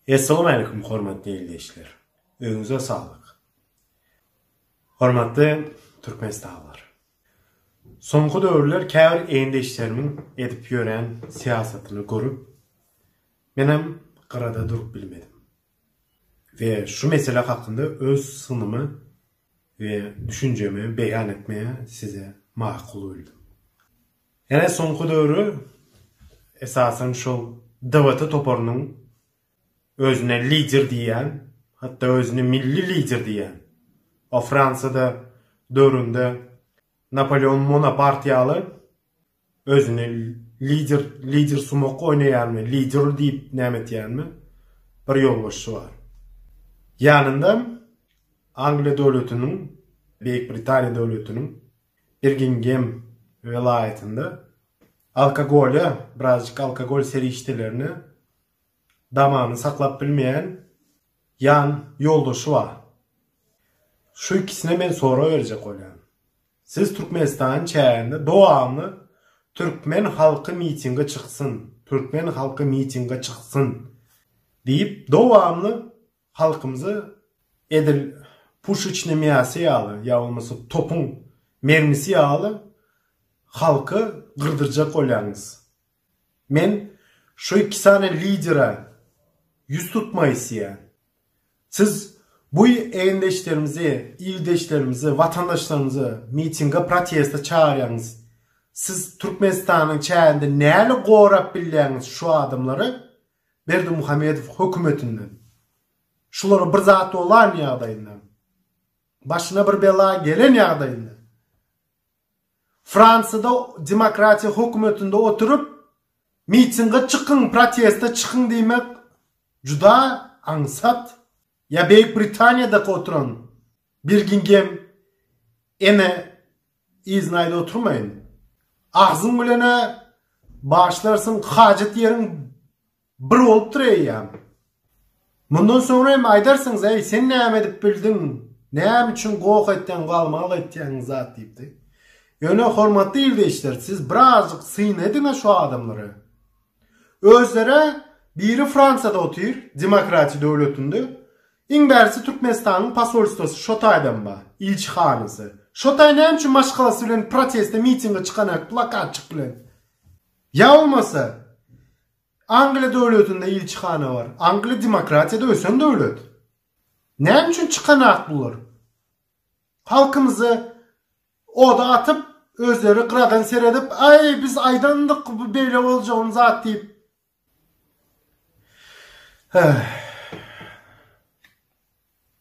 Essalamualeýkum hormatly ildeşler. Öýüňize saglyk. Hormatly türkmenistanlylar. Soňky döwürler käbir ildeşlerimiň edip ýören syýasatyny görüp, menem gyrada durup bilmedim. We şu mesele hakynda öz synymy we düşünjemi beýan etmegi size makul bildim. Ene soňky döwri esasan şol DVT toparynyň özüne lider diýýän, hatda özüni milli lider diýýän, o Fransiýada döwründe Napoleon Monapart ýaly özüni lider lider sumak oýnaýanmy, lider diýip näme etýänmi bir ýolbaşçy bar. Ýanynda Angliýa döwletiniň, Beýik Britaniýa döwletiniň Birgingem welaýatynda alkogolýa, birazjyk alkogol serişdelerine damany saklap bilmeýän ýan ýoldaşy bar. Şu ikisine men sorag berjek bolýan. Siz Türkmenistanyň çäginde dowamly türkmen halky mitinge çyksyn, türkmen halky mitinge çyksyn diýip dowamly Halkymyzy edil puşeçne miasy ýaly ýa bolmasa topuň mermisi ýaly halky gyrdyrjak bolýaňyz. Men şu iki sany lidere ýüz tutmak isleýän. Siz bu egindeşlerimizi, ildeşlerimizi, watandaşlarymyzy mitinge proteste çagyrýaňyz. Siz Türkmenistanyň çäginde näle gorap bilýäňiz şu adamlary? Berdimuhamedow hökümetinden, şulara bir zat bolan ýagdaýynda, başyna bir bela gelen ýagdaýynda, Fransiýada demokratiýa hökümetinde oturyp, mitinge çykyň, proteste çykyň diýmek juda aňsat. Ýa Beýik Britaniýada oturan Birgingem ene Yzyny aýda oturmaýyn. Agzyň bilen-ä başlarsyň, hajat ýeriň bir bolupdyr eýýäm. Mundan soňra hem aýdarsyňyz, Äý, sen näme edip bildiň? Näme üçin goh etýäň, galmagal etýäň zat diýipdi. Ýöne hormatly ildeşler, siz birazjyk syn ediň-ä şu adamlara. Özlerä biri Fransiýada otyr, demokratiýa döwletinde. Iň bärisi Türkmenistanyň posolstwosy şo taýdan bar, ilçihanasy. Şo taý näme üçin maşgalasy bilen proteste mitinge çykanak plakatçyk bilen? Ýa bolmasa Angliýa döwletinde ilçihana bar. Angliýa demokratiýada ösen döwlet. Näme üçin çykanak bular? Halkymyza Oda atyp, özleri gyradan seredip, Aý, biz aýdandyk, bu beýle boljagyny zat diýip. Heh.